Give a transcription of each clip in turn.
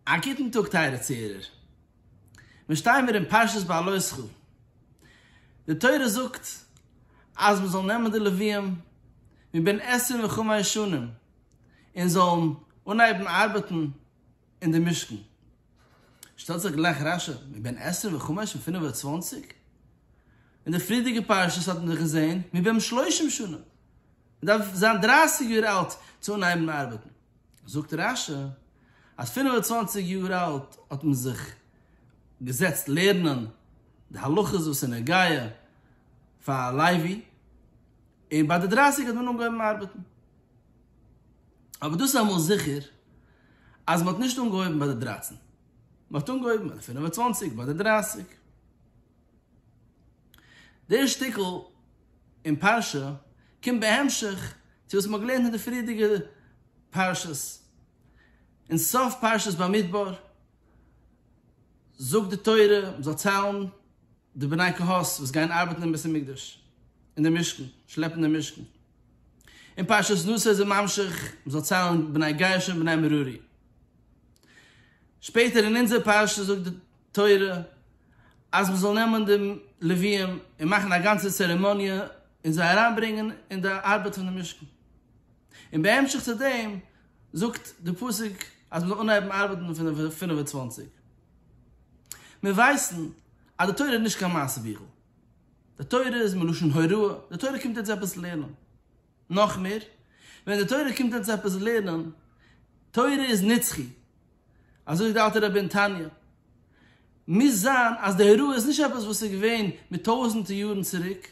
א גוטן טאג טייערע צוהערער. מיר שטייען מיר אין פרשת בהעלותך. די תורה זאגט אז מען זאל נעמען די לוויים מבין עשרים וחמש שנים און זאלן אנהייבן ארבעטן אין די משכן. שטעלט זיך גלייך רשע, מבין עשרים וחמש און פינף און צוואנציג? אין די פריערדיגע פרשות האט מען דאך געזען מבין שלושים שנים. מ'דארף זיין דרייסיג יאר אלט צו אנהייבן ארבעטן. זאגט רש י אז פינף און צוואנציג יאר אלט האט מען זיך געזעצט לערנען די הלכות וואס איז נוגע פאר א לוי, און ביי די דרייסיג האט מען אנגעהויבן ארבעטן. אבער דאס איז אמאל זיכער אז מ'האט נישט אנגעהויבן ביי די דרייצן, מ'האט אנגעהויבן ביי די פינף און צוואנציג, ביי די דרייסיג. דער שטיקל אין פרשה קומט בהמשך צו וואס מ'האט געלערנט אין די פריערדיגע פרשות. אין סוף פרשת במדבר זאגט די תורה מ'זאל ציילן די בני קהת וואס גייען ארבעטן אין בית המקדש, אין די משכן, שלעפן די משכן. אין פרשת נשא איז ער ממשיך מ'זאל ציילן בני גרשון בני מרארי. שפעטער אין אונזער פרשה זאגט די. תורה, אז מען זאל נעמען די לוויים און מאכן א גאנצע צערעמאניע און זיי אריינברענגען אין די ארבעט פון די משכן, און בהמשך צו דעם זאגט די פסוק אז מען זאל אנהייבן ארבעטן פון די פֿינף און צוואַנציק. מיר ווייסן אז די תורה איז נישט קיין מעשה ביכל, די תורה איז מלשון הוראה, די תורה קומט אונז עפעס לערנען. נאך מער, ווען די תורה קומט אונז עפעס לערנען, תורה איז נצחי, אזוי זאגט די אלטע רבי אין תניא, מוז זיין אז די הוראה איז נישט עפעס וואס איז געווען מיט טויזענטער יארן צוריק,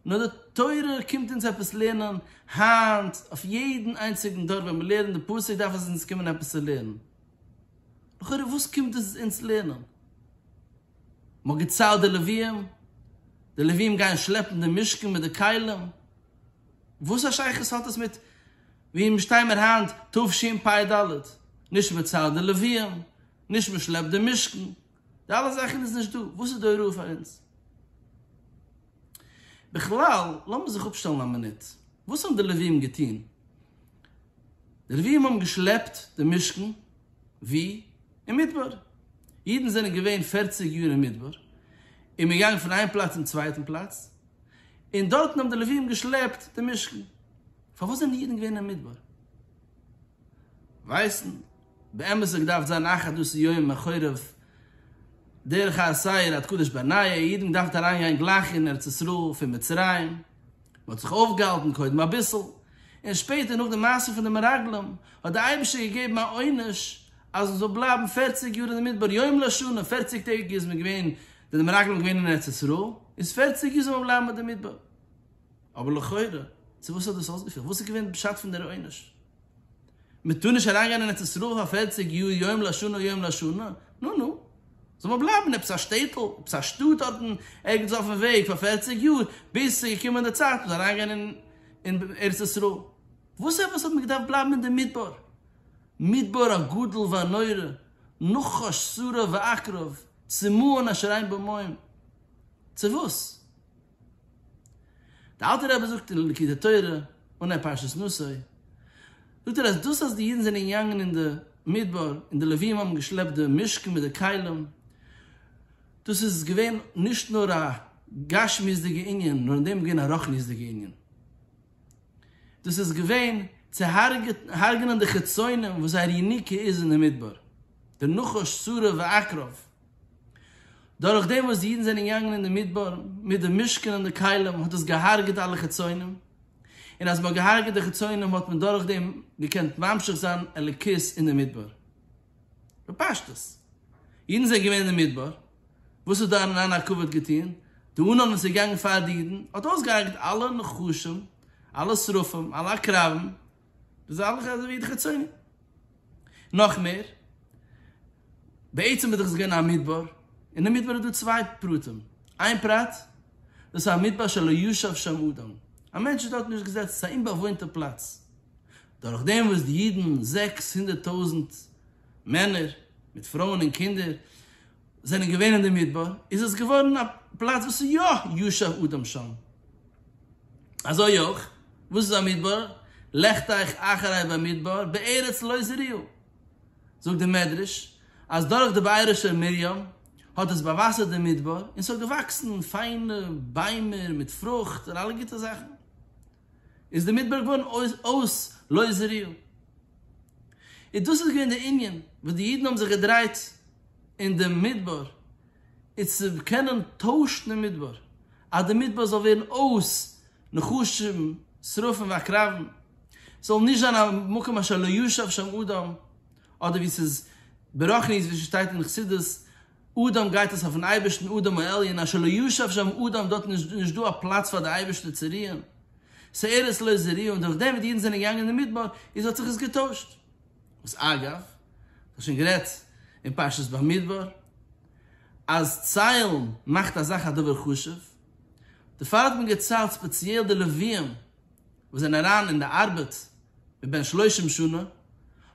נאר די תורה קומט אונז עפעס לערנען היינט, אויף יעדן איינציגן דור ווען מען לערנט די פסוק דארף עס אונז קומען עפעס צו לערנען. לכאורה וואס קומט עס אונז לערנען? מ'האט געציילט די לווים, די לווים גייען שלעפן די משכן מיט די כלים, וואס א שייכות האט עס מיט ווי מיר שטיי מיר היינט תשפ ד, נישט מען ציילט די לווים, נישט מען שלעפט די משכן, די אלע זאכן איז נישט דא, וואס איז די הוראה פאר אונז? בכלל, לאמיר זיך אפשטעלן א מינוט, וואס האבן די לווים געטון? די לווים האבן געשלעפט די משכן, ווי? אין מדבר. אידן זענען געווען פֿערציק יאר אין מדבר, און מען איז געגאנגען פון איין פלאץ צום צווייטן פלאץ, און דארטן האבן די לווים געשלעפט די משכן. פארוואס זענען אידן געווען אין מדבר? ווייסן. באמת האט געדארפט זיין אחת דאס יום מחורב דרך האסייר עד קדש ברנעיה, אידן געדארפט אריינגיין גלייך אין ארץ ישראל פון מצרים, מען האט זיך אויפגעהאלטן קודם אביסל, און שפעטער נאך די מעשה פון די מרגלים, האט דער אייבערשטער געגעבן א עונש אז מען זאל בלייבן פֿערציק יאר אין די מדבר, יום לשנה, פֿערציק טעג איז מען געווען, זענען די מרגלים געווען אין ארץ ישראל, איז פֿערציק יאר זאל מען בלייבן אין די מדבר. אבער לכאורה, צו וואס האט דאס אויסגעפעלט? וואס איז געווען פשט פון דער עונש? מ'טאר נישט אריינגיין אין ארץ ישראל פאר פֿערציק יאר יום לשנה יום לשנה, נו נו, זאל מען בלייבן אין עפעס א שטעטל, עפעס א שטאט דארטן ערגעץ אויפן וועג פאר פֿערציק יאר, ביז ס'איז געקומען די צייט מ'זאל אריינגיין אין ארץ ישראל. וואס עפעס האט מען געדארפט בלייבן אין די מדבר, מדבר הגדול והנורא, נחש סורא ועקרב, צמאון אשר אין בו מים. צו וואס? די אלטע רבי זאגט אין ליקוטי תורה, אן ע פרשת נשא, זאגט ער אז דאס אז די אידן זענען געגאנגען אין די מדבר און די לווים האבן געשלעפט די משכן מיט די כלים, דאס איז געווען נישט נאר א גשמיות'דיגע ענין, נאר אין דעם איז געווען א רוחניות'דיגע ענין. דאס איז געווען צו הרג'נען די חיצונים וואס זייער יניקה איז אין די מדבר, די נחש סורר ועקרב, דורך דעם וואס די אידן זענען געגאנגען אין די מדבר מיט די משכן און די כלים האט עס געהארגעט אלע חיצונים, און אז מען האט געהארגעט די חיצונים האט מען דורך דעם געקענט ממשיך זיין אלוקות אין די מדבר. בפשטות. אידן זענען געווען אין די מדבר, וואס האט דאן אן הקבה געטון? די אנהאנג וואס איז געגאנגען פאר די אידן האט אויסגעהארגעט אלע נחשים, אלע שרפים, אלע עקרבים, דאס איז אלעס אזוי ווי די חיצוני. נאך מער, בעצם איז דאך עס געווען א מדבר, און אין מדבר איז דא צוויי פרטים, איין פרט, דאס איז א מדבר שלא ישב שם אדם, א מענטש איז דארט נישט געזעצן, עס איז א אומבאוואוינטע פלאץ, דורך דעם וואס די אידן, זעקס הונדערט טויזנט מענער, מיט פרויען און קינדער, זענען געווען אין די מדבר, איז עס געווארן א פלאץ וואס איז יא ישב אדם שם. אזוי אויך, וואס איז א מדבר? לכט אייך אחרי במדבר בארץ לא זרעו. זאגט דער מדרש, אז דורך די בעירוש'ער מרים האט עס באוואסערט דעם מדבר, און ס'האט געוואקסן פיינע ביימער מיט פרוכט און אלע גוטע זאכן. איז דער מדבר געווארן אויס לא זרעו. און דאס איז געווען דער ענין, וואס די אידן האבן זיך געדרייט אין דעם מדבר. איז צו קענען טוישן אין מדבר, אז די מדבר זאל ווערן אויס נחשים שרפים ועקרבים, ס'זאל נישט זיין א מקום אשר לא ישב שם אדם, אדער ווי ס'איז ברחנית ווי ס'שטייט אין חסידות, אדם גייט עס אויפן אייבערשטן אדם העליון, אשר לא ישב שם אדם, דארט איז נישט דא א פלאץ פאר די אייבערשטער צו רוען, ס'ארץ לא זרועה, און דורכדעם ווי די אידן זענען געגאנגען אין מדבר איז האט זיך עס געטוישט. וואס אגב, איך האב שוין גערעדט אין פרשת במדבר, אז ציילן מאכט א זאך א דבר חשוב, דערפאר האט מען געציילט ספעציעל די לווים וואס זענען אריין אין די ארבעט מבין שלושים שנה,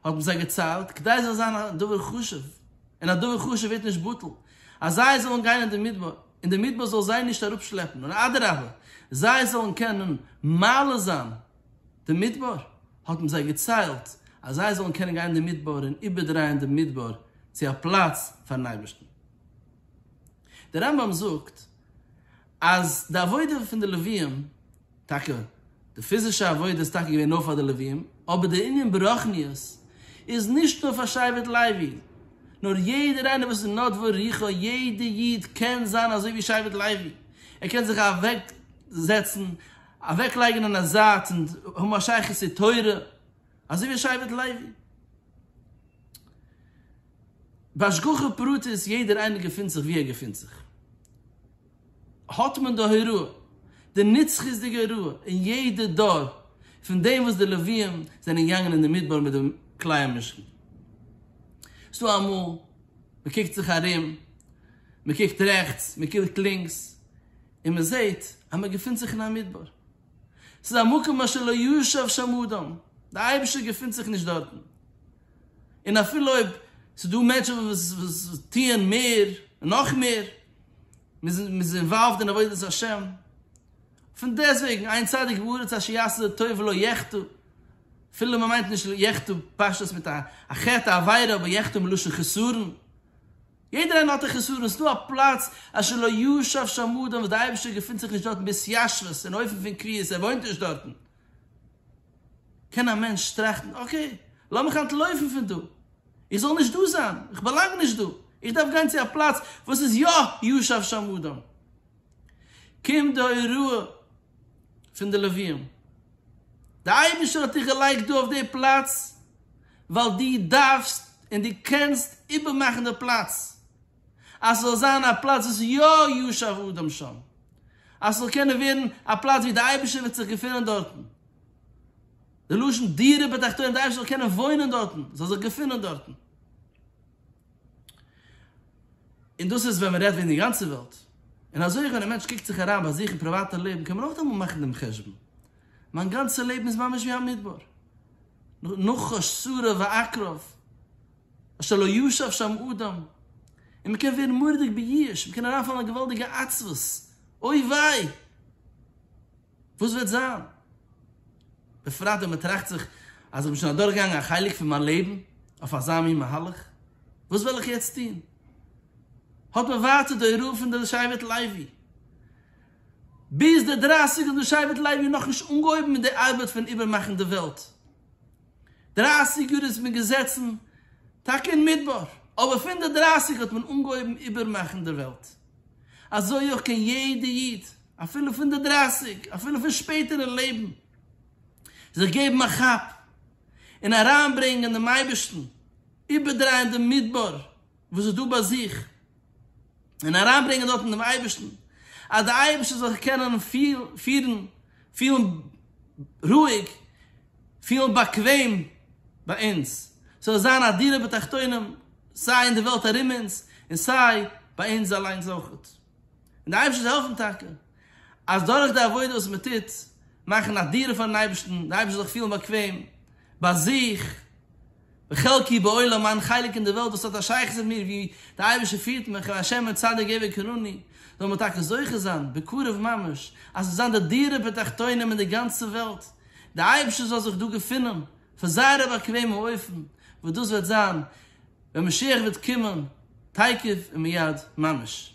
האט מען זיי געציילט כדי זאל זיין א דבר חשוב, און א דבר חשוב ווערט נישט בטל אז זיי זאלן גיין אין די מדבר, און די מדבר זאל זיי נישט אראפשלעפן, נאר אדרבה זיי זאלן קענען מעלה זיין די מדבר, האט מען זיי געציילט אז זיי זאלן קענען גיין אין די מדבר און איבערדרייען דעם מדבר צו א פלאץ פארן אייבערשטן. דער רמב ם זאגט אז די עבודה פון די לוויים, טאקע די פיזישע עבודה איז טאקע געווען נאר פאר די לוויים, אבער דער ענין ברוחניות איז נישט נאר פאר שבט לוי, נאר יעדער איינער וואס איז נדבו רוחו, יעדער איד קען זיין אזוי ווי שבט לוי, ער קען זיך אוועקזעצן אוועק לייגען אין א זייט און האבן א שייכות צו תורה אזוי ווי שבט לוי. בהשגחה פרטית יעדער איינער געפינט זיך ווי ער געפינט זיך האט מען די הוראה די נצחיות'דיגע הוראה אין יעדע דור פון דעם וואס די לווים זענען געגאנגען אין די מדבר מיט די כלי המשכן ס'דא אמאל מ'קוקט זיך ארום מ'קוקט רעכטס מ'קוקט לינקס און מען זעט אז מען געפינט זיך אין א מדבר, ס'איז א מקום אשר לא ישב שם אדם, דער אייבערשטער געפינט זיך נישט דארטן, און אפילו אויב ס'איז דא מענטשן וואס טוען מער און נאך מער, מען איז אינוואלווד אין עבודת השם, פון דעסט וועגן עיין צדיק בארץ אשר יעשה טוב ולא יחטא, אפילו מען מיינט נישט יחטא פשטות מיט א חטא א עבירה אבער יחטא מלשון חסרון, יעדער איינער האט א חסרון, עס איז דא א פלאץ אשר לא ישב שם אדם וואס דער אייבערשטער געפינט זיך נישט דארטן בהתיישבות, אין אופן פון קביעות, ער וואוינט נישט דארטן. קען א מענטש טראכטן, אקעי, לאמיך אנטלויפן פון דא, איך זאל נישט דא זיין, איך באלאנג נישט דא, איך דארף גיין צו א פלאץ וואס איז יא ישב שם אדם. קומט די הוראה. פון די לוויים. די אייבישטער האט דיך געלייגט דא אויף די פלאץ ווייל די דארפסט און די קענסט איבערמאכן די פלאץ אז ס'זאל זיין א פלאץ וואס יא ישב אדם שם, אז ס'זאל קענען ווערן א פלאץ ווי די אייבישטער וועט זיך געפונען דארטן, די לשון דירה בתחתונים די אייבישטער זאל קענען וואוינען דארטן, זאל זיך געפונען דארטן. און דאס איז ווען מען רעדט וועגן די גאנצע וועלט. און אזוי אויך ווען א מענטש קוקט זיך אריין ביי זיך אין פריוואטע לעבן קען מען אויך דעמאלט מאכן דעם חשבון, מיין גאנצע לעבן איז ממש ווי א מדבר, נחש סורר ועקרב, אשר לא ישב שם אדם, און מען קען ווערן מורא'דיג בייאש, מען קען אריינפאלן אין א געוואלדיגע עצבות, אוי וויי! וואס וועט זיין? בפרט ווען מען טראכט זיך אז איך בין שוין אדורכגעגאנגען א חלק פון מיין לעבן אויף אזא מין מהלך, וואס וועל איך יעצט טון? האט מען ווייטער די הוראה פון די שבט לוי. ביז די דרייסיג האט די שבט לוי נאכנישט אנגעהויבן מיט די ארבעט פון איבערמאכן די וועלט. דרייסיג יאר איז מען געזעצן טאקע אין מדבר, אבער פון די דרייסיג האט מען אנגעהויבן איבערמאכן די וועלט. אזוי אויך קען יעדע איד, אפילו פון די דרייסיג, אפילו פון שפעטער אין לעבן, זיך געבן א כאפ און אריינברענגען דעם אייבערשטן, איבערדרייען דעם מדבר וואס איז דא ביי זיך, און אריינברענגען דארטן דעם אייבערשטן, אז דער אייבערשטער זאל זיך קענען פירן, פילן רואיג, פילן באקוועם ביי אונז, ס'זאל זיין א דירה בתחתונים, סיי אין די וועלט ארום אונז, און סיי ביי אונז אליינס אויך. און די אייבערשטער זאל העלפן טאקע אז דורך די עבודה וואס מען טוט, מאכן א דירה פארן אייבערשטן, די אייבערשטער זאל זיך פילן באקוועם ביי זיך, בחלקי בעולם, מיין חלק אין די וועלט וואס האט א שייכות מיט מיר, ווי די אייבערשטער פירט מיך, און השם און צדיק געב וקרני, זאל מען טאקע זוכה זיין בקרוב ממש, אז עס זאל זיין די דירה בתחתונים אין די גאנצע וועלט, די אייבערשטער זאל זיך דא געפינען, פון זייער א באקוועמע אופן, וואס דאס וועט זיין ווען משיח וועט קומען תיכף ומיד ממש.